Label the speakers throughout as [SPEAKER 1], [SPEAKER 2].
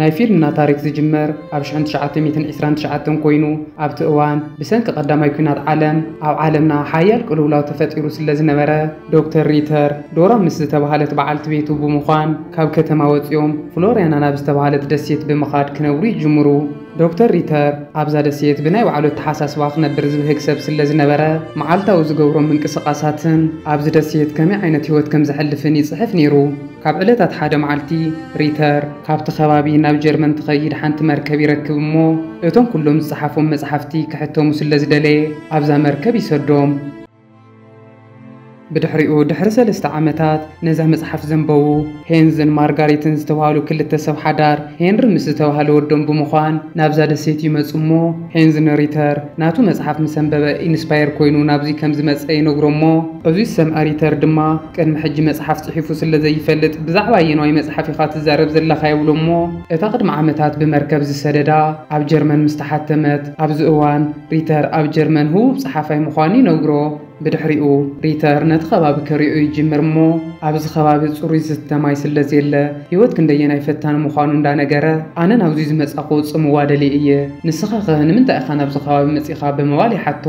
[SPEAKER 1] ናይ ፊልምና ታሪኽ ዝጅምር ኣብ ሽሕን ትሽዓተ ሚእትን ዕስራን ትሽዓተን ኮይኑ፣ ኣብቲ እዋን ብሰንኪ ቀዳማይ ኲናት ዓለም ኣብ ዓለምና ሓያል ቅልውላው ተፈጢሩ ስለዝነበረ፣ ዶክተር ሪተር፣ ዶራ ምስ ዝተባህለት በዓልቲ ቤቱ ብምዃን ካብ ከተማ ወጺኦም ፍሎርያና ናብ ዝተባህለት ደሴት ብምኻድ ክነብሩ ይጅምሩ። ዶክተር ሪተር ኣብዛ ደሴት ብናይ ባዕሉ ኣተሓሳስባ ክነብር ዝብህግ ሰብ ስለዝነበረ፣ መዓልታዊ ዝገብሮም ምንቅስቓሳትን ኣብዚ ደሴት ከመይ ዓይነት ህይወት ከምዘሕልፍን ይጽሕፍ ነይሩ። ኣብ ዕለታት ሓደ መዓልቲ፣ ሪተር ካብቲ ከባቢ ናብ ጀርመን ትኸይድ ሓንቲ መርከብ ይረክብ እሞ፣ እቶም ኩሎም ዝጸሓፎም መጽሓፍቲ ክሕተሙ ስለ ዝደለየ ኣብዛ መርከብ ይሰዶም። ብድሕሪኡ ድሕሪ ሰለስተ ዓመታት ነዛ መጽሓፍ ዘንበቡ ሄንዝን ማርጋሪትን ዝተባህሉ ክልተ ሰብ ሓዳር ሄንሪ ምስ ዝተባህለ ወዶም ብምዃን ናብዛ ደሴት ይመጹ እሞ፣ ሄንዝ ንሪተር ናቱ መጽሓፍ ምስ ኣንበበ ኢንስፓየር ኮይኑ ናብዚ ከም ዝመጸ ይነግሮ እሞ፣ እዚ ዝሰምዐ ሪተር ድማ፣ ቅድሚ ሕጂ መጽሓፍ ጽሒፉ ስለ ዘይፈልጥ ብዛዕባ ኣየናይ መጽሓፍ ኢኻ ትዛረብ ዘለኻ ይብሎ እሞ እታ ቅድሚ ዓመታት ብመርከብ ዝሰደዳ ኣብ ጀርመን ምስ ተሓተመት ኣብዚ እዋን ሪተር ኣብ ጀርመን ህቡብ ጸሓፋይ ምዃኑ ይነግሮ ብድሕሪኡ ሪተር ነቲ ከባቢ ከሪኦ ይጅምር እሞ ኣብዚ ከባቢ ጽሩይ ዝስተ ማይ ስለ ዘየለ ህይወት ክንደየናይ ፈታኒ ምዃኑ እንዳነገረ ኣነ ናብዙይ ዝመጻኹ ጽምዋ ደልየ እየ ንስኻኸ ንምንታይ ኢኻ ናብዚ ከባቢ መጺኻ ብምባል ይሓቶ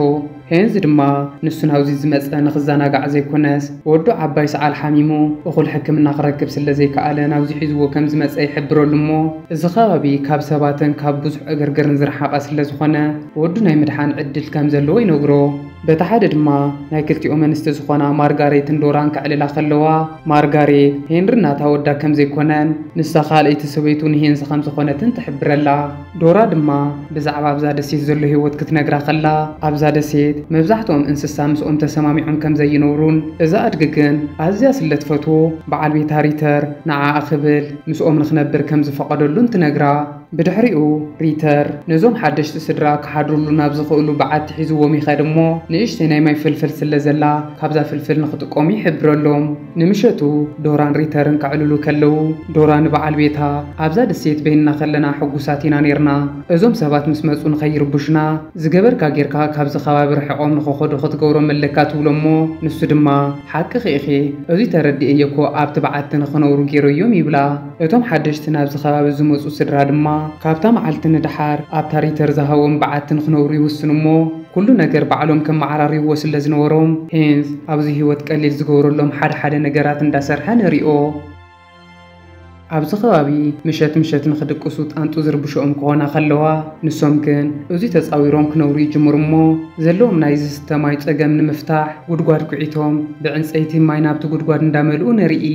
[SPEAKER 1] ሄንዝ ድማ ንሱ ናብዚ ዝመጸ ንኽዘናጋዕ ዘይኮነስ ወዱ ዓባይ ሰዓል ሓሚሙ እኹል ሕክምና ክረክብ ስለዘይከኣለ ናብዚ ሒዝዎ ከምዝመጸ ይሕብረሉ እሞ እዚ ከባቢ ካብ ሰባትን ካብ ብዙሕ ዕግርግርን ዝረሓቐ ስለዝኾነ ወዱ ናይ ምድሓን ዕድል ከምዘለዎ ይነግሮ። በቲ ሓደ ድማ ናይ ክልቲኦም ኣንስቲ ዝኾና ማርጋሬትን ዶራን ከዕልላ ከለዋ ማርጋሬት ሄንሪ ናታ ወዳ ከምዘይኮነን ንሳ ካልኣይቲ ሰበይቱ ንሄንዝ ከምዝኾነትን ትሕብረላ። ዶራ ድማ ብዛዕባ ኣብዛ ደሴት ዘሎ ህይወት ክትነግራ ከላ፣ ኣብዛ ደሴት መብዛሕትኦም እንስሳ ምስኦም ተሰማሚዖም ከም ዘይነብሩን እዛ ኣድጊ ግን ኣዝያ ስለ ትፈትዎ በዓል ቤታ ሪተር ንዓኣ ክብል ምስኦም ንኽነብር ከም ዝፈቐደሉን ትነግራ። ብድሕሪኡ ሪተር ነዞም ሓደሽቲ ስድራ ክሓድርሉ ናብ ዝኽእሉ በዓቲ ሒዝዎም ይኸድ እሞ ንእሽተይ ናይ ማይ ፍልፍል ስለ ዘላ ካብዛ ፍልፍል ንኽጥቀሙ ይሕብረሎም። ንምሸቱ ዶራን ሪተርን ከዕልሉ ከለዉ፣ ዶራ ንበዓል ቤታ፣ ኣብዛ ደሴት በይንና ከለና ሕጉሳት ኢና ኔርና። እዞም ሰባት ምስ መጹ ንኸይርቡሹና፣ ዝገበርካ ጌርካ ካብዚ ከባቢ ርሒቖም ንኸኸዱ ክትገብሮም ኣለካ ትብሎ'ሞ፣ ንሱ ድማ፣ ሓቅኺ ኢኺ፣ እዙይ ተረዲኤዮ'ኮ ኣብቲ በዓቲ ንኽነብሩ ጌረዮም ይብላ። እቶም ሓደሽቲ ናብዚ ከባቢ ዝመጹ ስድራ ድማ፣ ካብታ መዓልቲ ንደሓር ኣብታ ሪተር ዝሃቦም በዓቲ ንኽነብሩ ይውስኑ'ሞ፣ ኩሉ ነገር ባዕሎም ከመዓራርይዎ ስለ ዝነበሮም ሄንዝ ኣብዚ ህይወት ቀሊል ዝገብረሎም ሓደ ሓደ ነገራት እንዳ ሰርሐ ንሪኦ። ኣብዚ ከባቢ ምሸት ምሸት ንኽድቅሱ ጣንጡ ዝርብሸኦም ክኾና ከለዋ ንሶም ግን እዙይ ተጻዊሮም ክነብሩ ይጅምሩ እሞ ዘለዎም ናይ ዝስተ ማይ ጸገም ንምፍታሕ ጉድጓድ ኩዒቶም ብዕንጸይቲ ማይ ናብቲ ጉድጓድ እንዳመልኡ ንርኢ።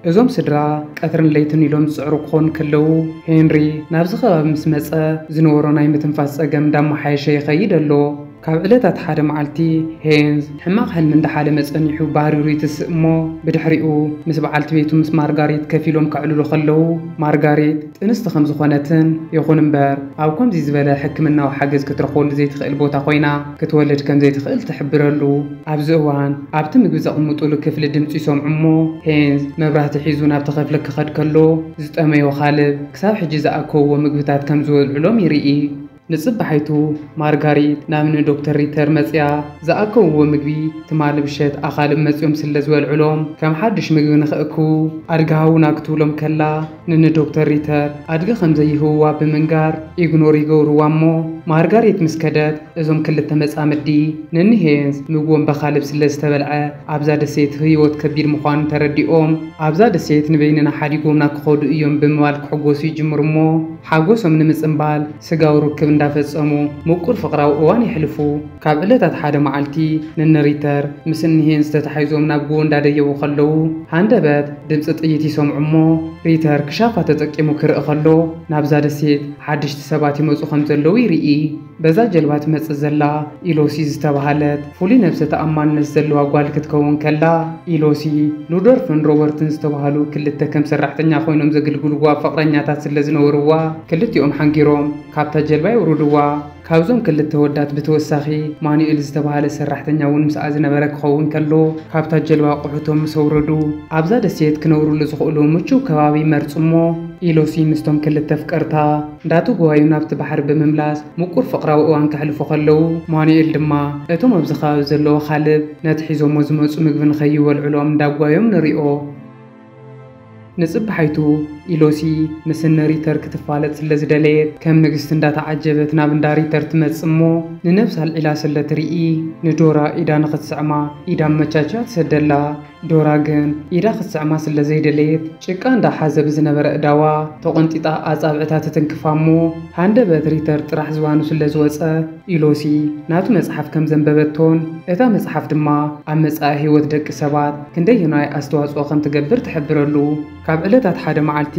[SPEAKER 1] እዞም ስድራ ቀትርን ለይትን ኢሎም ዝጽዕሩ ክኾኑ ከለዉ፣ ሄንሪ ናብዚ ከባቢ ምስ መጸ ዝነበሮ ናይ ምትንፋስ ጸገም እንዳመሓየሸ ይኸይድ ኣሎ። ካብ ዕለታት ሓደ መዓልቲ፣ ሄንዝ ሕማቕ ሕልሚ እንዳሓለመ ጸኒሑ ባሪሩ ይትስእ እሞ፣ ብድሕሪኡ ምስ በዓልቲ ቤቱ ምስ ማርጋሪት ከፊሎም ከዕልሉ ከለዉ፣ ማርጋሪት፣ ጥንስቲ ከም ዝኾነትን፣ ይኹን እምበር ኣብ ከምዚ ዝበለ ሕክምናዊ ሓገዝ ክትረኽበሉ ዘይትኽእል ቦታ ኮይና ክትወልድ ከም ዘይትኽእል ትሕብረሉ። ኣብዚ እዋን ኣብቲ ምግቢ ዘቕምጡሉ ክፍሊ ድምጺ ይሰምዑ እሞ ሄንዝ መብራህቲ ሒዙ ናብቲ ክፍሊ ክኸድ ከሎ ዝጠመዮ ኻልብ ክሳብ ሕጂ ዝኣከብዎ ምግብታት ከም ዝወልዑሎም ይርኢ። ንጽባሒቱ ማርጋሪት ናብ ን ዶክተር ሪተር መጺኣ ዝኣከውዎ ምግቢ ትማሊ ምሸት ኣኻልብ መጺኦም ስለ ዝበልዑሎም ከም ሓድሽ ምግቢ ንኽእክቡ ኣድጊ ሃቡና ክትብሎም ከላ ን ን ዶክተር ሪተር ኣድጊ ከም ዘይህብዋ ብምንጋር ኢግኖር ይገብርዋ እሞ ማርጋሪት ምስ ከደት እዞም ክልተ መጻምዲ ን ን ሄንስ ምግቦም በኻልብ ስለ ዝተበልዐ ኣብዛ ደሴት ህይወት ከቢድ ምዃኑ ተረዲኦም ኣብዛ ደሴት ንበይንና ሓዲጎምና ክኸዱ እዮም ብምባል ክሕጎሱ ይጅምሩ እሞ ሓጎሶም ንምጽንባል ስጋዊ ርክብ እንዳፈጸሙ ምቁር ፍቕራዊ እዋን የሕልፉ። ካብ ዕለታት ሓደ መዓልቲ ንን ሪተር ምስ እኒ ሄንዝ ተታሒዞም ናብ ጎቦ እንዳደየቡ ከለዉ ሃንደበት ድምጺ ጥይት ይሰምዑ እሞ ሪተር ክሻፋ ተጠቂሙ ክርኢ ከሎ ናብዛ ደሴት ሓደሽቲ ሰባት ይመጹ ከምዘለዉ ይርኢ። በዛ ጀልባ ትመጽእ ዘላ ኢሎሲ ዝተባህለት ፍሉይ ነብሰ ተኣማንነት ዘለዋ ጓል ክትከውን ከላ፣ ኢሎሲ፣ ሉዶርፍን ሮበርትን ዝተባህሉ ክልተ ከም ሰራሕተኛ ኮይኖም ዘግልግልዋ ፍቕረኛታት ስለዝነበርዋ፣ ክልቲኦም ሓንጊሮም ካብታ ጀልባ የውርድዋ። ካብዞም ክልተ ኣወዳት ብተወሳኺ ማኑኤል ዝተባህለ ሰራሕተኛ እውን ምስኣ ዝነበረ ክኸውን ከሎ፣ ካብታ ጀልባ ኣቑሑቶም ምስ ኣውረዱ፣ ኣብዛ ደሴት ክነብርሉ ዝኽእሉ ምቹው ከባቢ መርጹ'ሞ፣ ኢሎሲ ምስቶም ክልተ ኣፍቀርታ፣ እንዳተጓየዩ ናብቲ ባሕሪ ብምምላስ ምቁር ፍቕራዊ እዋን ከሕልፉ ከለዉ፣ ማኑኤል ድማ እቶም ኣብዚ ከባቢ ዘለዉ ኣኻልብ ነቲ ሒዞሞ ዝመጹ ምግቢ ንኸይበልዑሎም እንዳጓዮም ንሪኦ። ንጽባሒቱ ኢሎሲ ምስ እነ ሪተር ክትፋለጥ ስለ ዝደለየት ከም ንግስቲ እንዳተዓጀበት ናብ እንዳ ሪተር ትመጽእ እሞ ንነብሳ ኣልዒላ ስለ ትርኢ ንዶራ ኢዳ ንኽትስዕማ ኢድ ኣመቻችያ ትሰደላ። ዶራ ግን ኢዳ ክትስዕማ ስለ ዘይደለየት ጭቃ እንዳ ሓዘ ብዝነበረ ኣእዳዋ ተቖንጢጣ ኣጻብዕታ ትትንክፋ እሞ ሃንደበት ሪተር ጥራሕ ዝባኑ ስለ ዝወጸ ኢሎሲ ናቱ መጽሓፍ ከም ዘንበበቶን እታ መጽሓፍ ድማ ኣብ መጻኢ ህይወት ደቂ ሰባት ክንደየናይ ኣስተዋጽኦ ከም ትገብር ትሕብረሉ ካብ ዕለታት ሓደ መዓልቲ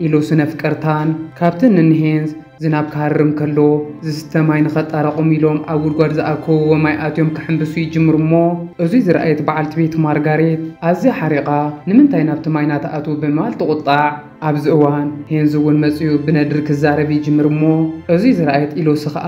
[SPEAKER 1] ኢሎሲ ነፍቀርታን ካብቲ ንንሄንዝ ዝናብ ክሃርም ከሎ ዝስተ ማይ ንኸጣራቕሙ ኢሎም ኣብ ጉድጓድ ዝኣከብዎ ማይ ኣትዮም ክሕንብሱ ይጅምሩ እሞ እዙይ ዝረኣየት በዓልቲ ቤት ማርጋሬት ኣዝያ ሓሪቓ ንምንታይ ናብቲ ማይ ናትኣትዉ ብምባል ትቑጣዕ። ኣብዚ እዋን ሄንዝ እውን መፂኡ ብነድሪ ክዛረብ ይጅምር እሞ እዙይ ዝረኣየት ኢሎሲ ኸዓ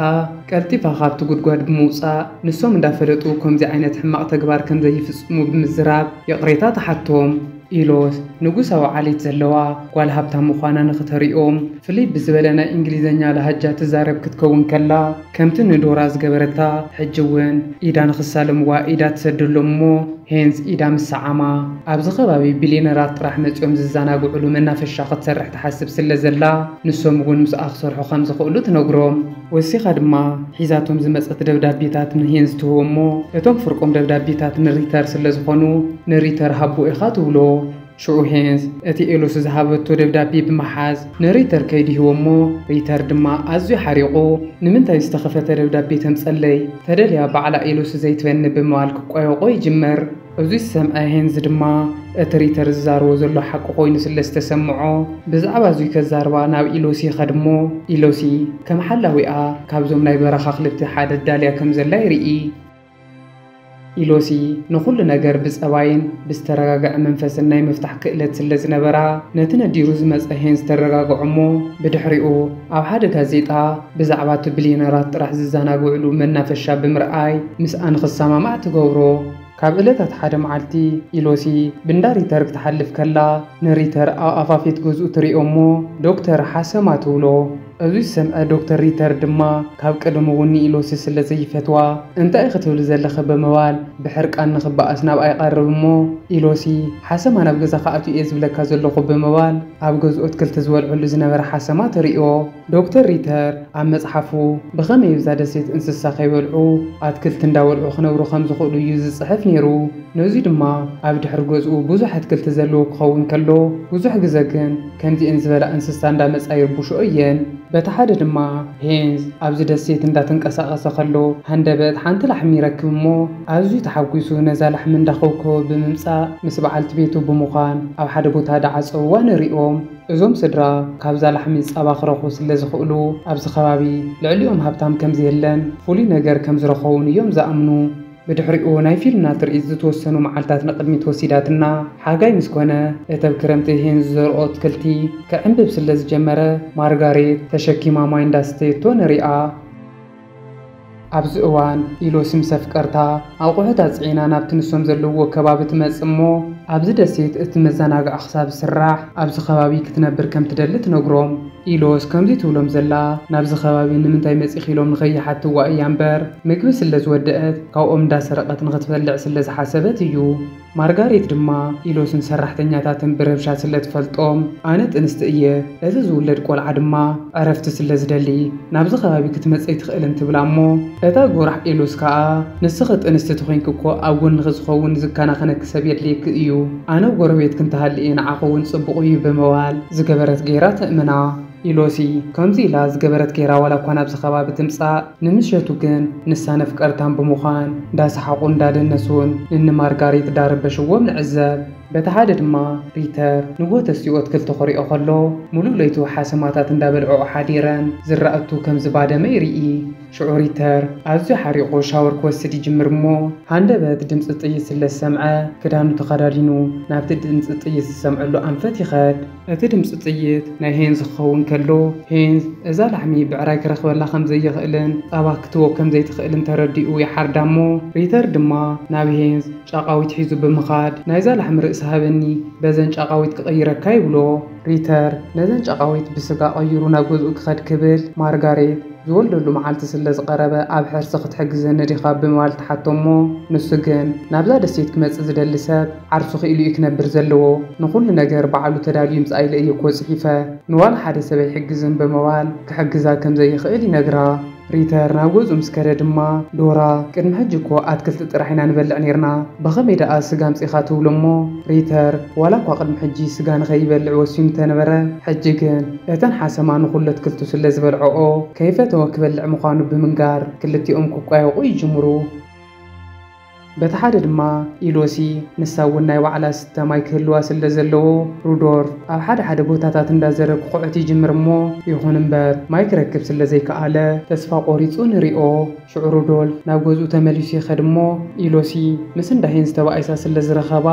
[SPEAKER 1] ቀልጢፋ ካብቲ ጉድጓድ ብምውፃእ ንሶም እንዳፈለጡ ከምዙይ ዓይነት ሕማቕ ተግባር ከምዘይፍፅሙ ብምዝራብ ይቕሬታ ትሓቶም። ኢሎት ንጉሳዊ ዓሌት ዘለዋ ጓል ሃብታም ምዃና ንኽተርእዮም ፍልይ ብዝበለ ናይ እንግሊዘኛ ላሃጃ ትዛረብ ክትከውን ከላ ከምቲ ንዶራ ዝገበረታ ሕጂ ውን ኢዳ ንኽሳለምዋ ኢዳ ትሰደሎም እሞ ሄንስ ኢዳ ምስ ሰዓማ ኣብዚ ከባቢ ቢልየነራት ጥራሕ መጽዮም ዝዛናግዕሉ መናፈሻ ክትሰርሕ ትሓስብ ስለ ዘላ ንሶም ውን ምስኣ ክሰርሑ ከም ዝኽእሉ ትነግሮም ወሲኻ ድማ ሒዛቶም ዝመጸት ደብዳቤታት ንሄንዝ ትህቦ እሞ እቶም ፍርቆም ደብዳቤታት ንሪተር ስለ ዝኾኑ ንሪተር ሃቦ ኢኻ ትብሎ። ሽዑ ሄንዝ እቲ ኤሎሲ ዝሃበቶ ደብዳቤ ብምሓዝ ንሪተር ከይዱ ይህቦ እሞ ሪተር ድማ ኣዝዩ ሓሪቑ ንምንታይ ዝተኸፈተ ደብዳቤ ተምጸለይ ተደልያ ባዕላ ኤሎሲ ዘይትበኒ ብምባል ክቋየቖ ይጅምር። እዚ ዝሰምዐ ሄንዝ ድማ፣ እቲ ሪተር ዝዛረቦ ዘሎ ሓቂ ኮይኑ ስለ ዝተሰምዖ፣ ብዛዕባ እዙይ ከዛርባ ናብ ኢሎሲ ይኸድ እሞ፣ ኢሎሲ ከም ሓላዊኣ ካብዞም ናይ በረኻ ኣኽልብቲ ሓደ ኣዳልያ ከም ዘላ ይርኢ። ኢሎሲ ንኹሉ ነገር ብጸባይን ብዝተረጋግዐ መንፈስን ናይ ምፍታሕ ክእለት ስለ ዝነበራ፣ ነቲ ነዲሩ ዝመጸ ሄንዝ ተረጋግዖ እሞ፣ ብድሕሪኡ ኣብ ሓደ ጋዜጣ፣ ብዛዕባ እቲ ብልየነራት ጥራሕ ዝዘናግዕሉ መናፈሻ ብምርኣይ ምስኣ ንኽሰማማዕ ትገብሮ። ካብ እለታት ሓደ መዓልቲ፣ ኢሎሲ ብንዳ ሪተር ክትሓልፍ ከላ፣ ንሪተር ኣብ ኣፋፌት ገዝኡ ትሪኦ እሞ ዶክተር ሓሰማ ትብሎ። እዚ ዝሰምዐ ዶክተር ሪተር ድማ ካብ ቀደሙ እውን ንኢሎሲ ስለ ዘይፈትዋ እንታይ ኢኺ ትብሊ ዘለኺ ብምባል ብሕርቃን ንኽበኣስ ናብኣ ይቐርብ እሞ ኢሎሲ ሓሰማ ናብ ገዛኻ ኣትዩ እየ ዝብለካ ዘለኹ ብምባል ኣብ ገዝኡ ኣትክልቲ ዝበልዐሉ ዝነበረ ሓሰማ ትሪኦ። ዶክተር ሪተር ኣብ መጽሓፉ፣ ብኸመይ እብዛ ደሴት እንስሳ ከይበልዑ ኣትክልቲ እንዳበልዑ ክነብሩ ከም ዝኽእሉ እዩ ዝጽሕፍ ነይሩ። ነዙይ ድማ ኣብ ድሕሪ ገዝኡ ብዙሕ ኣትክልቲ ዘለዎ ክኸውን ከሎ፣ ብዙሕ ግዘ ግን ከምዚኤን ዝበላ እንስሳ እንዳመጻ ይርብሽኦ እየን። በቲ ሓደ ድማ ሄንዝ ኣብዚ ደሴት እንዳተንቀሳቐሰ ከሎ ሃንደበት ሓንቲ ላሕሚ ይረክብ እሞ ኣዝዩ ተሓጒሱ ነዛ ላሕሚ እንዳኸውከወ ብምምጻእ ምስ በዓልቲ ቤቱ ብምዃን ኣብ ሓደ ቦታ ድዓጸውዋ ንሪኦም። እዞም ስድራ ካብዛ ላሕሚ ጸባ ክረኽቡ ስለ ዝኽእሉ ኣብዚ ከባቢ ልዕሊኦም ሃብታም ከም ዘየለን ፍሉይ ነገር ከም ዝረኸቡን እዮም ዝኣምኑ። ብድሕሪኡ ናይ ፊልና ትርኢት ዝተወሰኑ መዓልታት ንቕድሚት ወሲዳትና። ሓጋይ ምስ ኮነ እተብ ክረምቲ ሄን ዝዘርኦ ኣትክልቲ ክዕምብብ ስለ ዝጀመረ ማርጋሬት ተሸኪማ ማይ እንዳስተየቶ ንሪኣ። ኣብዚ እዋን ኢሎ ስም ሰፍቀርታ ኣቑሑት ኣጽዒና ናብቲ ንሶም ዘለውዎ ከባቢ ትመጽእ እሞ ኣብዚ ደሴት እቲ መዘናግዒ ክሳብ ዝስራሕ ኣብዚ ከባቢ ክትነብር ከም ትደሊ ትነግሮም። ኢሎስ ከምዚ ትብሎም ዘላ ናብዚ ከባቢ ንምንታይ መጺኺ ኢሎም ንኸይሓትዋ እያ እምበር ምግቢ ስለ ዝወደኣት ካብኦም እንዳሰረቐት ንኽትበልዕ ስለ ዝሓሰበት እዩ። ማርጋሬት ድማ ኢሎስን ሰራሕተኛታትን ብረብሻ ስለ ትፈልጦም፣ ኣነ ጥንስቲ እየ፣ እዚ ዝውለድ ቆልዓ ድማ ዕረፍቲ ስለ ዝደሊ ናብዚ ከባቢ ክትመጽ ኣይትኽእልን ትብላ እሞ እታ ጎራሕ ኢሎስ ከኣ ንስኺ ጥንስቲ ተኾይንኪ እኮ ኣብ ጎንኺ ዝኸውን ዝከናኸነኪ ሰብ የድልየኪ እዩ፣ ኣነ ጎረቤትኪ እንተሃልየ ንዓኺ እውን ጽቡቕ እዩ ብምባል ዝገበረት ገይራ ተእምና። ኢሎሲ ከምዚ ኢላ ዝገበረት ጌራ ዋላ እኳ ናብዚ ከባቢ ትምጻእ ንምሸቱ ግን ንሳን ኣፍቀርታን ብምዃን እንዳሰሓቑን እንዳደነሱን ንኒ ማርጋሪት እንዳረበሽዎም ንዕዘብ። በቲ ሓደ ድማ ሪተር ንሆተስኡ ኣትክልቲ ኮሪኦ ከሎ ምሉእ ለይቱ ሓሰማታት እንዳበልዕኦ ሓዲረን ዝራእቱ ከም ዝባደመ ይርኢ። ሽዑ ሪተር ኣዝዩ ሓሪቑ ሻወር ክወስድ ይጅምር እሞ ሃንደበት ድምጺ ጥይት ስለ ዝሰምዐ ክዳኑ ተኸዳዲኑ ናብቲ ድምጺ ጥይት ዝሰምዐሉ ኣንፈት ይኸድ። እቲ ድምጺ ጥይት ናይ ሄንዝ ክኸውን ከሎ፣ ሄንዝ እዛ ላሕሚ ብዕራይ ክረኽበላ ከም ዘይኽእልን ጻባ ክትህቦ ከም ዘይትኽእልን ተረዲኡ ይሓርዳ እሞ፣ ሪተር ድማ ናብ ሄንዝ ጫቓዊት ሒዙ ብምኻድ ናይዛ ላሕሚ ርእሲ ሃበኒ በዘን ጫቓዊት ክቕይረካ ይብሎ። ሪተር ነዘን ጫቓዊት ብስጋ ቀይሩ ናብ ገዝኡ ክኸድ ክብል፣ ማርጋሬት ዝወልደሉ መዓልቲ ስለ ዝቐረበ ኣብ ሕርሲ ክትሕግዘኒ ዲኻ ብምባል ትሓቶ እሞ፣ ንሱ ግን ናብዛ ደሴት ክመጽእ ዝደሊ ሰብ፣ ዓርሱ ክኢሉ እዩ ክነብር ዘለዎ ንኹሉ ነገር ባዕሉ ተዳልዩ ይምጻእ ኢለ እየ እኮ ጽሒፈ ንዋላ ሓደ ሰብ ኣይሕግዝን ብምባል ክሕግዛ ከም ዘይኽእል ይነግራ። ሪተር ናብ ገዝኡ ምስ ከደ ድማ ዶራ ቅድሚ ሕጂ እኮ ኣትክልቲ ጥራሕ ኢና ንበልዕ ኔርና ብኸመይ ደኣ ስጋ ኣምጺኻ ትብሎ እሞ ሪተር ዋላ እኳ ቅድሚ ሕጂ ስጋ ንኸይበልዕ ወሲኑ እንተነበረ ሕጂ ግን እተን ሓሰማ ንኹሉ ኣትክልቱ ስለ ዝበልዕኦ ከይፈተወ ክበልዕ ምዃኑ ብምንጋር ክልቲኦም ክቋየቑ ይጅምሩ። በቲ ሓደ ድማ ኢሎሲ፣ ንሳ እውን ናይ ባዕላ ዝስተ ማይ ክህልዋ ስለ ዘለዎ፣ ሩዶርፍ ኣብ ሓደ ሓደ ቦታታት እንዳዘረ ክኹዕት ይጅምር እሞ ይኹን እምበር ማይ ክረክብ ስለ ዘይከኣለ፣ ተስፋ ቆሪጹ ንሪኦ፣ ሽዑ ሩዶልፍ ናብ ገዝኡ ተመሊሱ ይኸድ እሞ ኢሎሲ ምስ እንዳ ሄንስ ተባኢሳ ስለ ዝረኸባ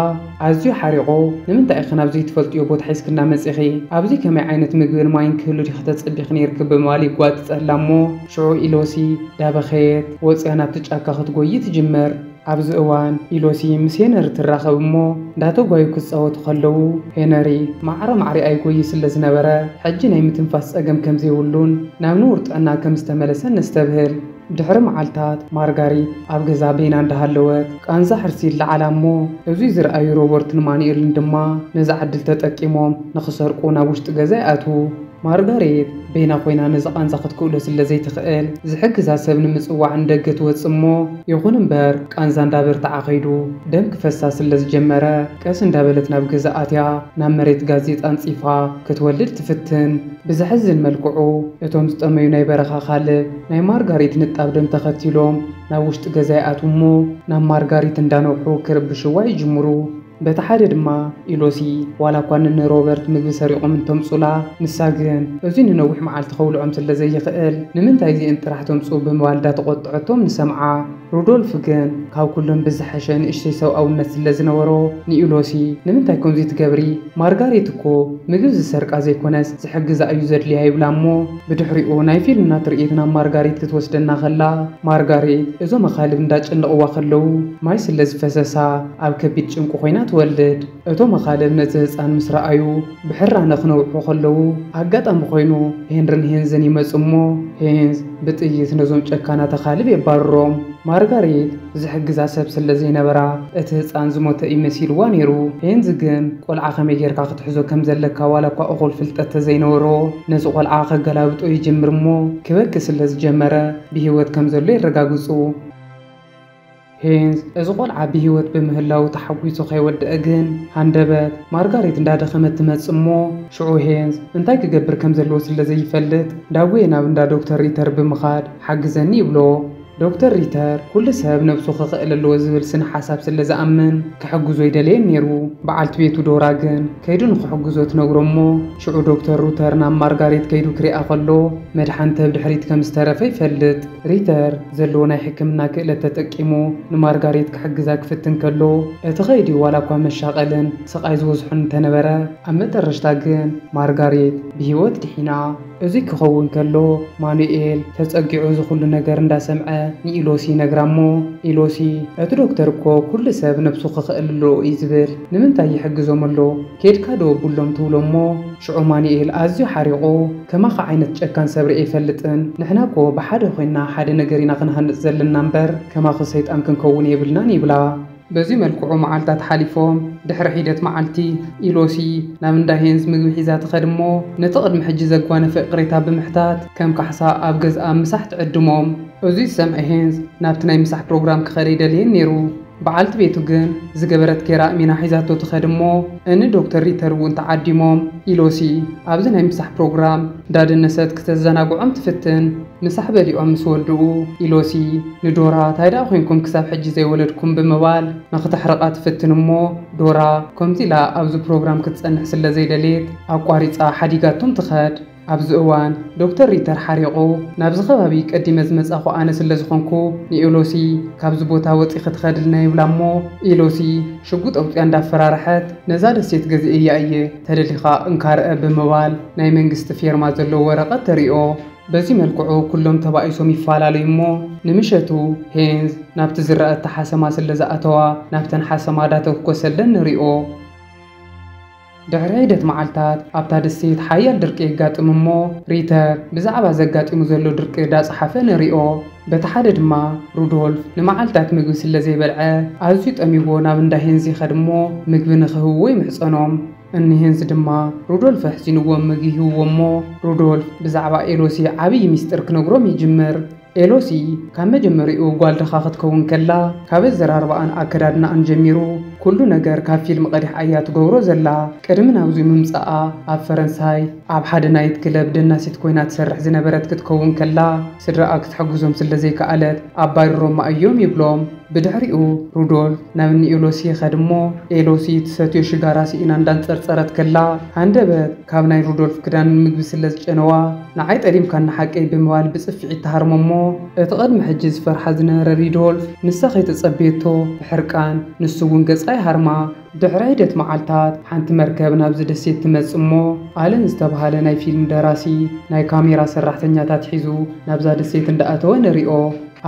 [SPEAKER 1] ኣዝዩ ሓሪቑ ንምንታይ ኢኺ ናብ ዘይትፈልጥዮ ቦታ ሒዝክና መጺኺ፣ ኣብዚ ከመይ ዓይነት ምግብን ማይን ክህሉ ዲኺ ተጸቢኺ ኔርኪ ብምባል ይጓጥጸላ እሞ፣ ሽዑ ኢሎሲ ዳበኸየት ወጽያ ናብቲ ጫካ ክትጎዪ ትጅምር። ኣብዚ እዋን ኢሎሲ ምስ ሄነሪ ትራኸብ እሞ እንዳተጓዩ ክጻወቱ ከለዉ ሄነሪ ማዕረ ማዕሪኣ ይጎዪ ስለ ዝነበረ ሕጂ ናይ ምትንፋስ ጸገም ከም ዘይብሉን ናብ ንቡር ጥዕና ከም ዝተመለሰን ነስተብህል። ድሕሪ መዓልታት ማርጋሪት ኣብ ገዛ በይና እንዳሃለወት ቃንዛ ሕርሲ ይለዓላ እሞ እዙይ ዝረኣዩ ሮበርትን ማኑኤልን ድማ ነዛ ዕድል ተጠቂሞም ንኽሰርቁ ናብ ውሽጢ ገዛ ይኣትዉ። ማርጋሬት በይና ኮይና ነዚ ቃንዛ ክትክእሎ ስለ ዘይትኽእል ዝሕግዛ ሰብ ንምጽዋዕ ንደገ ትወጽእ እሞ ይኹን እምበር ቃንዛ እንዳበርትዓ ከይዱ ደም ክፈሳ ስለ ዝጀመረ ቀስ እንዳበለት ናብ ገዛ ኣትያ ናብ መሬት ጋዜጣ ኣንጺፋ ክትወልድ ትፍትን። ብዘሕዝን መልክዑ እቶም ዝጠመዩ ናይ በረኻ ካልብ ናይ ማርጋሪት ንጣብ ደም ተኸቲሎም ናብ ውሽጢ ገዛ ይኣትዉ እሞ ናብ ማርጋሪት እንዳነውሑ ክርብሽዋ ይጅምሩ። በቲ ሓደ ድማ ኢሎሲ ዋላ እኳ ንንሮበርት ምግቢ ሰሪቖም እንተምጹላ፣ ንሳ ግን እዚ ንነዊሕ መዓልቲ ከብልዖም ስለ ዘይኽእል ንምንታይ እዚኤን ጥራሕ ተምጽኡ ብምባል ዳተቖጥዐቶም ንሰምዓ። ሩዶልፍ ግን ካብ ኩለን ብዝሐሸ ንእሽተይ ሰብኣውነት ስለ ዝነበሮ ንኢሎሲ ንምንታይ ከምዚ ትገብሪ? ማርጋሬት እኮ ምግብ ዝሰርቃ ዘይኮነስ ዝሕግዛ እዩ ዘድልያ ይብላ እሞ ብድሕሪኡ ናይ ፊልምና ትርኢት ናብ ማርጋሬት ክትወስደና ከላ ማርጋሬት እዞም ኣኻልብ እንዳጨነቕዋ ከለዉ ማይ ስለ ዝፈሰሳ ኣብ ከቢድ ጭንቂ ኮይና ትወልድ። እቶም ኣኻልብ ነቲ ህጻን ምስ ረኣዩ ብሕራነ ክነውሑ ከለዉ፣ ኣጋጣሚ ኮይኑ ሄንርን ሄንዝን ይመጹ እሞ ሄንዝ ብጥይት ነዞም ጨካናት ኣኻልብ የባርሮም። ማርጋሬት ዝሕግዛ ሰብ ስለ ዘይነበራ እቲ ህጻን ዝሞተ እዩ መሲልዋ ነይሩ። ሄንዝ ግን ቆልዓ ከመይ ጌርካ ክትሕዞ ከም ዘለካ ዋላ እኳ እኹል ፍልጠት ተዘይነበሮ ነቲ ቆልዓ ከገላብጦ ይጅምር እሞ ክበኪ ስለ ዝጀመረ ብህይወት ከም ዘሎ የረጋግጹ። ሄንዝ እዚ ቆልዓ ብሂወት ብምህላዉ ተሓጒሱ ከይወደኣ ግን ሃንደበት ማርጋሬት እንዳደኸመት ትመጽእ እሞ ሽዑ ሄንዝ እንታይ ክገብር ከም ዘለዎ ስለ ዘይፈልጥ ዳጉየ ናብ እንዳ ዶክተር ሪተር ብምኻድ ሓግዘኒ ይብሎ። ዶክተር ሪተር ኩሉ ሰብ ነብሱ ክኽእል ኣለዎ ዝብል ስነ ሓሳብ ስለ ዝኣምን ክሕግዞ ይደለየን ኔሩ። በዓልቲ ቤቱ ዶራ ግን ከይዱ ንኽሕግዞ ትነግሮ እሞ ሽዑ ዶክተር ሩተር ናብ ማርጋሬት ከይዱ ክሪኣ ከሎ መድሓኒት ተብ ድሕሪት ከም ዝተረፈ ይፈልጥ። ሪተር ዘለዎ ናይ ሕክምና ክእለት ተጠቂሙ ንማርጋሬት ክሕግዛ ክፍትን ከሎ፣ እቲ ከይዲ ዋላኳ መሻቐልን ስቓይ ዝበዝሖን እንተነበረ፣ ኣብ መጠረሽታ ግን ማርጋሬት ብህይወት ድሒና። እዙይ ክኸውን ከሎ ማኑኤል ተፀጊዑ እዚ ኩሉ ነገር እንዳሰምዐ ንኢሎሲ ይነግራ እሞ ኢሎሲ እቲ ዶክተር እኮ ኩሉ ሰብ ነብሱ ክኽእል ኣለዎ እዩ ዝብል ንምንታይ ይሕግዞም ኣሎ ኬድካ ዶ ኣብሎም ትብሎ እሞ ሽዑ ማኑኤል ኣዝዩ ሓሪቑ፣ ከማኻ ዓይነት ጨካን ሰብ ርእየ ኣይፈልጥን፣ ንሕና እኮ ብሓደ ኮይንና ሓደ ነገር ኢና ክንሃንጽ ዘለና እምበር ከማኺ ሰይጣን ክንከውን የብልናን ይብላ። በዚ መልክዑ መዓልታት ሓሊፎም ድሕሪ ሒደት መዓልቲ ኢሎሲ ናብ እንዳ ሄንዝ ምግቢ ሒዛ ትኸድ እሞ ነቲ ቅድሚ ሕጂ ዘጓነፈ እቕሬታ ብምሕታት ከም ካሕሳ ኣብ ገዝኣ ምሳሕ ትዕድሞም። እዚ ዝሰምዐ ሄንዝ ናብቲ ናይ ምሳሕ ፕሮግራም ክኸደ ኣይደለየን ነይሩ። በዓልቲ ቤቱ ግን ዝገበረት ጌራ ኣእሚና ሒዛቶ ትኸድ እሞ እኒ ዶክተር ሪተር እውን ተዓዲሞም። ኢሎሲ ኣብዚ ናይ ምሳሕ ፕሮግራም እንዳደነሰት ክተዘናግዖም ትፍትን። ምሳሕ በሊዖም ምስ ወድኡ ኢሎሲ ንዶራ ታይ ደኣ ኮይንኩም ክሳብ ሕጂ ዘይወለድኩም ብምባል ንክተሕርቓ ትፍትን እሞ ዶራ ከምዚ ኢላ ኣብዚ ፕሮግራም ክትፀንሕ ስለዘይደልየት ኣቋሪፃ ሓዲጋቶም ትኸድ። ኣብዚ እዋን ዶክተር ሪተር ሓሪቑ፣ ናብዚ ከባቢ ቀዲመ ዝመጻኹ ኣነ ስለ ዝኾንኩ፣ ንኤሎሲ ካብዚ ቦታ ወጺኺ ትኸድልና ይብላ እሞ፣ ኤሎሲ ሽጉጥ ኣውጺኣ እንዳፈራርሐት፣ ነዛ ደሴት ገዚኤያ እየ፣ ተደሊኻ እንካ ርኣ ብምባል ናይ መንግስቲ ፌርማ ዘለዎ ወረቐት ተሪኦ። በዚ መልክዑ ኩሎም ተባኢሶም ይፈላለዩ እሞ፣ ንምሸቱ ሄንዝ ናብቲ ዝረኣታ ሓሰማ ስለ ዝኣተዋ፣ ናብተን ሓሰማ ዳተኩኮሰለን ንሪኦ። ድሕሪ ሒደት መዓልታት ኣብታ ደሴት ሓያል ድርቂ የጋጥም እሞ ሪተር ብዛዕባ ዘጋጢሙ ዘሎ ድርቂ ዳጸሓፈ ንሪኦ። በቲ ሓደ ድማ ሩዶልፍ ንመዓልታት ምግቢ ስለ ዘይበልዐ ኣዝዩ ጠሚዎ ናብ እንዳ ሄንዝ ይኸድ እሞ ምግቢ ንክህብዎ ይምሕጸኖም። እኒ ሄንዝ ድማ ሩዶልፍ ኣሕዚንዎም ምግቢ ይህብዎ እሞ ሩዶልፍ ብዛዕባ ኤሎሲ ዓብዪ ሚስጢር ክነግሮም ይጅምር። ኤሎሲ ካብ መጀመሪኡ ጓል ድኻ ክትከውን ከላ ካብ ኣዘራርባኣን ኣከዳድናኣን ጀሚሩ ኩሉ ነገር ካብ ፊልም ቀዲሕ ኣያ ትገብሮ ዘላ ቅድሚ ናብዙይ ምምጻኣ ኣብ ፈረንሳይ ኣብ ሓደ ናይት ክለብ ደናሲት ኮይና ትሰርሕ ዝነበረት ክትከውን ከላ ስድራኣ ክትሕግዞም ስለ ዘይከኣለት ኣባሪሮማ ኣዮም ይብሎም ብድሕሪኡ ሩዶልፍ ናብ እኒ ኤሎሲ ይኸድ እሞ ኤሎሲ ትሰትዮ ሽጋራ ሲኢና እንዳንጸርጸረት ከላ ሃንደበት ካብ ናይ ሩዶልፍ ክዳን ምግቢ ስለ ዝጨነዋ ንዓይ ጠሊምካኒ ሓቀይ ብምባል ብጽፍዒት ትሃርሞ እሞ፣ እቲ ቅድሚ ሕጂ ዝፈርሓ ዝነበረ ሪዶልፍ፣ ንሳ ከይተጸበየቶ ብሕርቃን ንሱ እውን ገጻ ይሃርማ። ድሕሪ ሒደት መዓልታት፣ ሓንቲ መርከብ ናብዚ ደሴት ትመጽእ እሞ፣ ኣለን ዝተበሃለ ናይ ፊልም ደራሲ ናይ ካሜራ ሰራሕተኛታት ሒዙ ናብዛ ደሴት እንዳኣተወ ንሪኦ።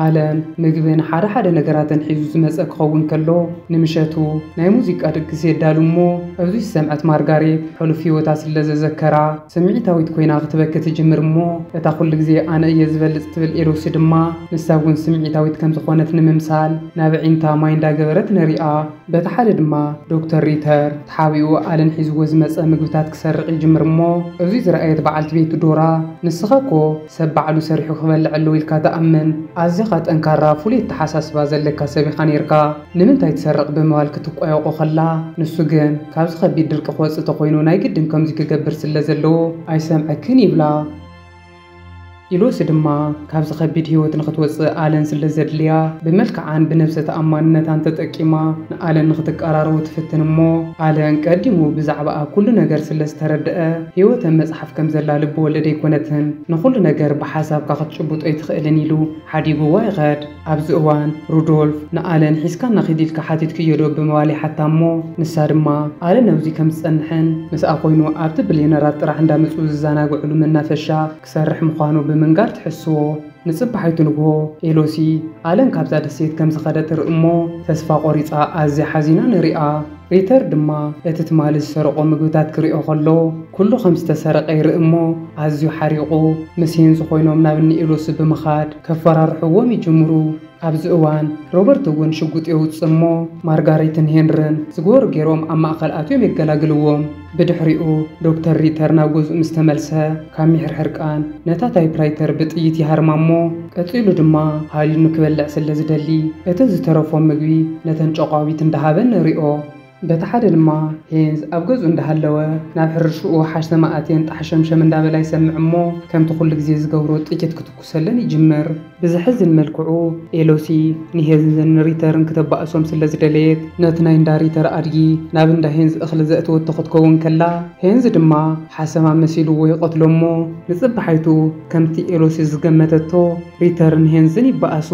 [SPEAKER 1] ኣለን፣ ምግብን ሓደ ሓደ ነገራትን ሒዙ ዝመጸ ክኸውን ከሎ፣ ንምሸቱ ናይ ሙዚቃ ድግስ የዳሉ እሞ፣ ኣብዚ ዝሰምዐት ማርጋሬት ሕሉፍ ህይወታ ስለዘዘከራ፣ ስምዒታዊት ኰይና ኽትበኪ ትጅምር እሞ፣ እታ ዅሉ ግዜ ኣነ እየ ዝበልጽ እትብል ኤሎሲ ድማ፣ ንሳ እውን ስምዒታዊት ከም ዝዀነት ንምምሳል ናብ ኣዒንታ ማይ እንዳ ገበረት ንርኣ። በቲ ሓደ ድማ ዶክተር ሪተር፣ ተሓቢኡ ኣለን ሒዝዎ ዝመጸ ምግብታት ክሰርቕ ይጅምር እሞ፣ እዙይ ዝረኣየት በዓልቲ ቤቱ ዶራ፣ ንስኻ እኮ ሰብ ባዕሉ ሰሪሑ ክበልዕ ኣለዎ ኢልካ ትኣምን፣ ኣዚኻ ጠንካራ ፍሉይ ኣተሓሳስባ ዘለካ ሰብ ኢኻ ነይርካ። ንምንታይ ትሰርቕ ብምባል ክትቋየቖ ከላ፣ ንሱ ግን ካብዚ ከቢድ ድርቂ ክወጽእ ተኾይኑ ናይ ግድን ከምዚ ክገብር ስለ ዘለዎ ኣይሰምዐክን ይብላ። ኢሎሲ ድማ ካብዚ ከቢድ ህይወት ንኽትወጽእ ኣለን ስለ ዘድልያ ብመልክዓን ብነብሰ ተኣማንነታን ተጠቂማ ንኣለን ንኽትቀራረቡ ትፍትን እሞ ኣለን ቀዲሙ ብዛዕባኣ ኩሉ ነገር ስለ ዝተረደኣ ህይወተ መጽሓፍ ከም ዘላ ልቢ ወለድ ኣይኮነትን ንኹሉ ነገር ብሓሳብካ ክትጭብጦ ኣይትኽእልን ኢሉ ሓዲጉዋ ይኸድ። ኣብዚ እዋን ሩዶልፍ ንኣለን ሒዝካና ኺድ ኢልካ ሓቲትክዮዶ? ብምባል ይሓታ እሞ ንሳ ድማ ኣለን ኣብዚ ከም ዝጸንሕን ምስኣ ዀይኑ ኣብቲ ብልየነራት ጥራሕ እንዳመጹ ዝዘናግዕሉ መናፈሻ ክሰርሕ ምዃኑ ብምንጋር ትሕስዎ። ንጽባሒቱ ንግሆ ኤሎሲ ኣለን ካብዛ ደሴት ከም ዝኸደ ትርኢ እሞ ተስፋ ቈሪጻ ኣዝያ ሓዚና ንርእያ። ሪተር ድማ እቲ ትማሊ ዝሰረቖ ምግብታት ክሪኦ ከሎ ኩሉ ከም ዝተሰረቐ ይርኢ እሞ ኣዝዩ ሓሪቑ ምስ ሄንዝ ኮይኖም ናብ እኒ ኤሎሲ ብምኻድ ከፈራርሕዎም ይጅምሩ። ኣብዚ እዋን ሮበርት እውን ሽጉጥ የውፅእ እሞ ማርጋሬትን ሄንርን ዝገበሩ ገይሮም ኣብ ማእኸል ኣትዮም የገላግልዎም። ብድሕሪኡ ዶክተር ሪተር ናብ ገዝኡ ምስ ተመልሰ፣ ካብ ምሕርሕርቃን ነታ ታይፕራይተር ብጥይት ይሃርማ እሞ ቀጺሉ ድማ ሃሪኑ ክበልዕ ስለ ዝደሊ እቲ ዝተረፎ ምግቢ ነተን ጨቋዊት እንዳ ሃበ ንሪኦ። በቲ ሓደ ድማ ሄንዝ ኣብ ገዝኡ እንዳ ሃለወ ናብ ሕርሽኡ ሓሽተማ ኣትየን ጣሕሸምሸም እንዳ በላ ይሰምዕ እሞ ከምቲ ኩሉ ግዜ ዝገብሮ ጥይት ክትኩስ፣ ኩሰለን ይጅመር። ብዘሕዝን መልክዑ ኤሎሲ ንሄንዝን ሪተርን ክተባእሶም ስለ ዝደለየት ነቲ ናይ እንዳ ሪተር ኣድጊ ናብ እንዳ ሄንዝ እኽሊ ዘእተወቶ ክትከውን ከላ ሄንዝ ድማ ሓሰማ መሲልዎ ይቐትሎ እሞ ንጽባሓይቱ ከምቲ ኤሎሲ ዝገመተቶ ሪተርን ሄንዝን ይባኣሱ።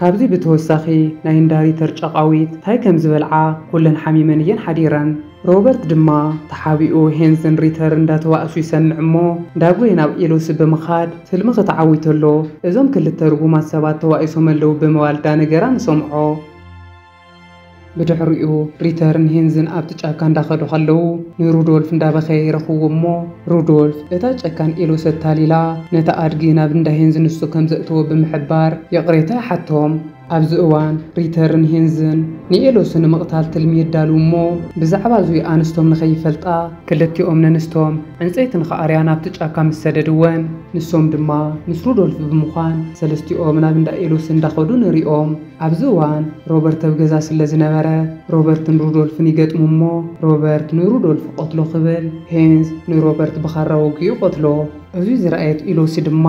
[SPEAKER 1] ካብዚ ብተወሳኺ ናይ እንዳ ሪተር ጫቓዊት ታይ ከም ዝበልዓ ኩለን ሓሚመን እየን ሓዲረን። ሮበርት ድማ ተሓቢኡ ሄንስን ሪተር እንዳተባእሱ ይሰምዕ እሞ ዳጎየ ናብ ኤሎሲ ብምኻድ ትልምኺ ተዓዊቶ'ሎ እዞም ክልተ ርጉማት ሰባት ተባኢሶም ኣለው ብምባል ዳነገራ ንሰምዖ። ብድሕሪኡ ሪተርን ሄንዝን ኣብቲ ጫካ እንዳኸዱ ከለው ንሩዶልፍ እንዳበኸየ ይረኽብዎ እሞ ሩዶልፍ እታ ጨካን ኤሎሲ ኣታሊላ ነቲ ኣድጊ ናብ እንዳ ሄንዝ ንሱ ከምዘእተዎ ብምሕባር ይቕሬታ ይሓቶም። ኣብዚ እዋን ሪተርን ሄንዝን ንኤሎሲ ንምቕታል ትልሚ የዳልዉ እሞ ብዛዕባ እዙይ ኣንስቶም ንኸይፈልጣ ክልቲኦም ነንስቶም ዕንፀይቲ ንኸኣርያ ናብቲ ጫካ ምስ ሰደድወን ንሶም ድማ ምስ ሩዶልፍ ብምዃን ሰለስቲኦም ናብ እንዳ ኤሎሲ እንዳኸዱ ንሪኦም። ኣብዚ እዋን ሮበርት ኣብ ገዛ ስለዝነበረ ሮበርትን ሩዶልፍን ይገጥሙ እሞ ሮበርት ንሩዶልፍ ቐትሎ ክብል ሄንዝ ንሮበርት ብኻራ ወጊኡ ይቐትሎ። እዙይ ዝረኣየት ኤሎሲ ድማ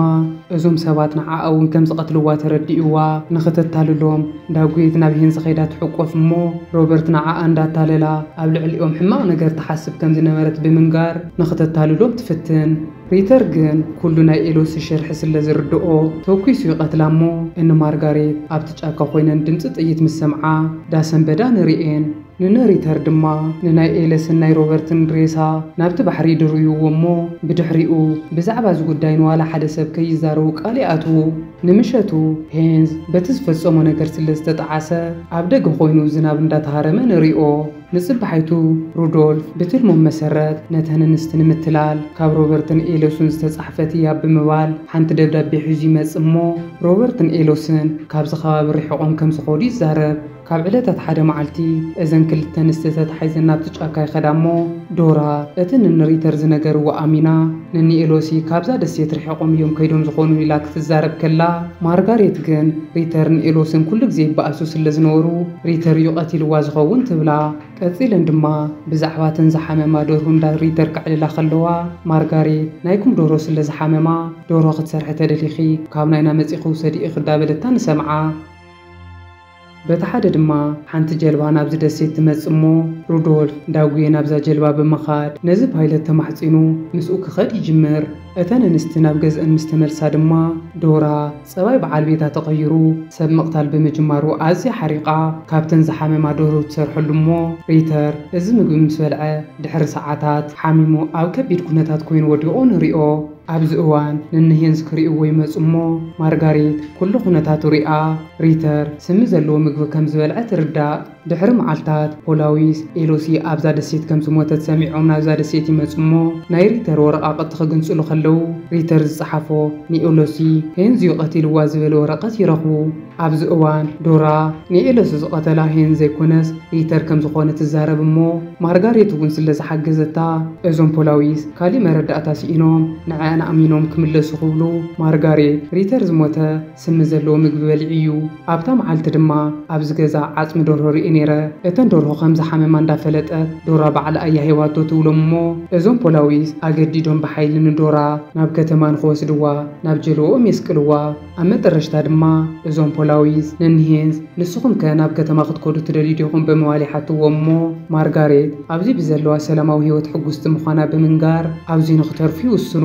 [SPEAKER 1] እዞም ሰባት ንዓኣ እውን ከም ዝቐትልዋ ተረዲኡዋ ንኽተታልሎም ዳግዊት ናብ ሄንዚ ከይዳ ትሕቆፍ እሞ ሮበርት ንዓኣ እንዳታለላ ኣብ ልዕሊኦም ሕማቕ ነገር ትሓስብ ከም ዝነበረት ብምንጋር ንኽተታልሎም ትፍትን። ሪተር ግን ኩሉ ናይ ኤሎሲ ሽርሒ ስለ ዝርደኦ ተኲሱ ይቐትላ እሞ እኒ ማርጋሬት ኣብቲ ጫካ ኮይነን ድምፂ ጥይት ምስ ሰምዓ ዳሰንበዳ ንሪኤን። ንነሪተር ድማ ንናይ ኤለስን ናይ ሮበርትን ሬሳ ናብቲ ባሕሪ ይድርብይዎ እሞ ብድሕሪኡ ብዛዕባ እዚ ጉዳይ ንዋላ ሓደ ሰብ ከይዛረቡ ቃል ይኣትዉ። ንምሸቱ ሄንዝ በቲ ዝፈጸሞ ነገር ስለ ዝተጠዓሰ ኣብ ደገ ኮይኑ ዝናብ እንዳተሃረመ ንሪኦ። ንጽባሒቱ ሩዶልፍ ብትልሞም መሰረት ነተን እንስቲ ንምትላል ካብ ሮበርትን ኤሎስን ዝተጻሕፈት እያ ብምባል ሓንቲ ደብዳቤ ሒዙ ይመጽእ እሞ ሮበርትን ኤሎስን ካብዚ ከባቢ ርሒቖም ከም ዝኸዱ ይዛረብ። ካብ ዕለታት ሓደ መዓልቲ፣ እዘን ክልተ ኣንስቲ ተታሒዘን ናብቲ ጫካ ይኸዳ እሞ፣ ዶራ፣ እቲ ንንሪተር ዝነገርዎ ኣሚና፣ ንንኤሎሲ ካብዛ ደሴት ርሒቖም እዮም ከይዶም ዝኾኑ ኢላ ክትዛረብ ከላ፣ ማርጋሬት ግን፣ ሪተርን ኤሎስን ኩሉ ግዜ ይበኣሱ ስለ ዝነበሩ፣ ሪተር እዩ ቀቲልዋ ዝኸውን ትብላ። ቀጺለን ድማ፣ ብዛዕባ እተን ዝሓመማ ደርሁ እንዳ ሪተር ከዕልላ ከለዋ፣ ማርጋሬት፣ ናይኩም ደርሆ ስለ ዝሓመማ፣ ደርሆ ክትሰርሒ ተደሊኺ፣ ካብ ናይና መጺኺ ውሰዲኢኺ እዳበለታ ንሰምዓ። በቲ ሓደ ድማ ሓንቲ ጀልባ ናብዚ ደሴት ትመጽእ እሞ ሩዶልፍ ዳጉየ ናብዛ ጀልባ ብምኻድ ነዚ ፓይለት ተማሕጺኑ ምስኡ ክኸድ ይጅምር። እተን እንስቲ ናብ ገዝእን ምስ ተመልሳ ድማ ዶራ ጸባይ በዓል ቤታ ተቐይሩ ሰብ ምቕታል ብምጅማሩ ኣዝያ ሓሪቓ ካብተን ዝሓመማ ደርሁ ትሰርሐሉ እሞ ሪተር እዚ ምግቢ ምስ በልዐ ድሕሪ ሰዓታት ሓሚሙ ኣብ ከቢድ ኩነታት ኮይኑ ወዲቑ ንሪኦ። ኣብዚ እዋን ንንሄንስ ክሪኡዎ ይመጹ እሞ ማርጋሪት ኩሉ ኩነታቱ ሪኣ ሪተር ስሚ ዘለዎ ምግቢ ከም ዝበልዐ ትርዳእ። ድሕሪ መዓልታት ፖላዊስ ኤሎሲ ኣብዛ ደሴት ከም ዝሞተት ሰሚዖም ናብዛ ደሴት ይመጹ እሞ ናይ ሪተር ወረቓቕቲ ክግንጽሉ ከለዉ ሪተር ዝጸሓፎ ንኤሎሲ ሄንዝዩ ቀቲልዋ ዝበል ወረቐት ይረኽቡ። ኣብዚ እዋን ዶራ ንኤለሱ ዝቐተላ ሄን ዘይኮነስ ሪተር ከም ዝኾነ ትዛረብ እሞ ማርጋሬት እውን ስለ ዝሓገዘታ እዞም ፖላዊስ ካሊእ መረዳእታ ሲኢኖም ንዐኣን ኣእሚኖም ክምለሱ ክብሉ ማርጋሬት ሪተር ዝሞተ ስሚ ዘለዎ ምግቢ በሊዑ እዩ ኣብታ መዓልቲ ድማ ኣብዚ ገዛ ዓፅሚ ደርሆ ሪኤ ነይረ እተን ደርሆ ከም ዝሓመማ እንዳፈለጠት ዶራ ባዕላ እያ ሂባቶ ትብሎም እሞ እዞም ፖላዊስ ኣገዲዶም ብሓይሊ ንዶራ ናብ ከተማ ንክወስድዋ ናብ ጀልወኦም የስቅልዋ። ኣብ መጠረሽታ ድማ እዞም ፖላዊስ ነንሄንስ ንስኹም ከ ናብ ከተማ ክትከዱ ትደልዩ ዲኹም ብምባል ይሓትዎም እሞ ማርጋሬት ኣብዚ ብዘለዋ ሰላማዊ ህይወት ሕጉስቲ ምዃና ብምንጋር ኣብዚ ንኽተርፉ ይውስኑ።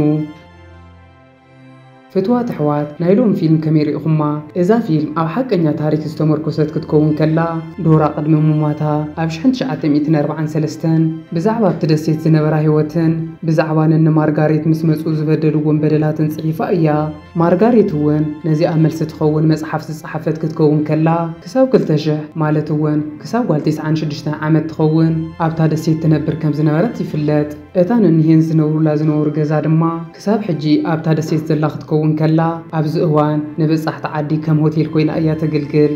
[SPEAKER 1] ፍትዋት ኣሕዋት ናይ ሎሚ ፊልም ከመይ ሪኢኹማ? እዛ ፊልም ኣብ ሓቀኛ ታሪክ ዝተሞርኮሰት ክትከውን ከላ ዶራ ቅድሚ ሙማታ ኣብ ሽሕን ትሽዓተ ሚእትን ኣርብዓን ሰለስተን ብዛዕባ ኣብቲ ደሴት ዝነበራ ህይወትን ብዛዕባ ነኒ ማርጋሬት ምስ መጹ ዝበደልዎም በደላትን ጽሒፋ እያ። ማርጋሪት እውን ነዚኣ መልሲ ትኸውን መጽሓፍ ዝጸሓፈት ክትከውን ከላ፣ ክሳብ ክልተ ሽሕ ማለት እውን ክሳብ ጓል ቴስዓን ሽዱሽተን ዓመት ትኸውን ኣብታ ደሴት ትነብር ከም ዝነበረት ይፍለጥ። እታ ነኒሀን ዝነብሩላ ዝነበሩ ገዛ ድማ ክሳብ ሕጂ ኣብታ ደሴት ዘላ ክትከውን ከላ፣ ኣብዚ እዋን ንበጻሕቲ ዓዲ ከም ሆቴል ኮይና እያ ተግልግል።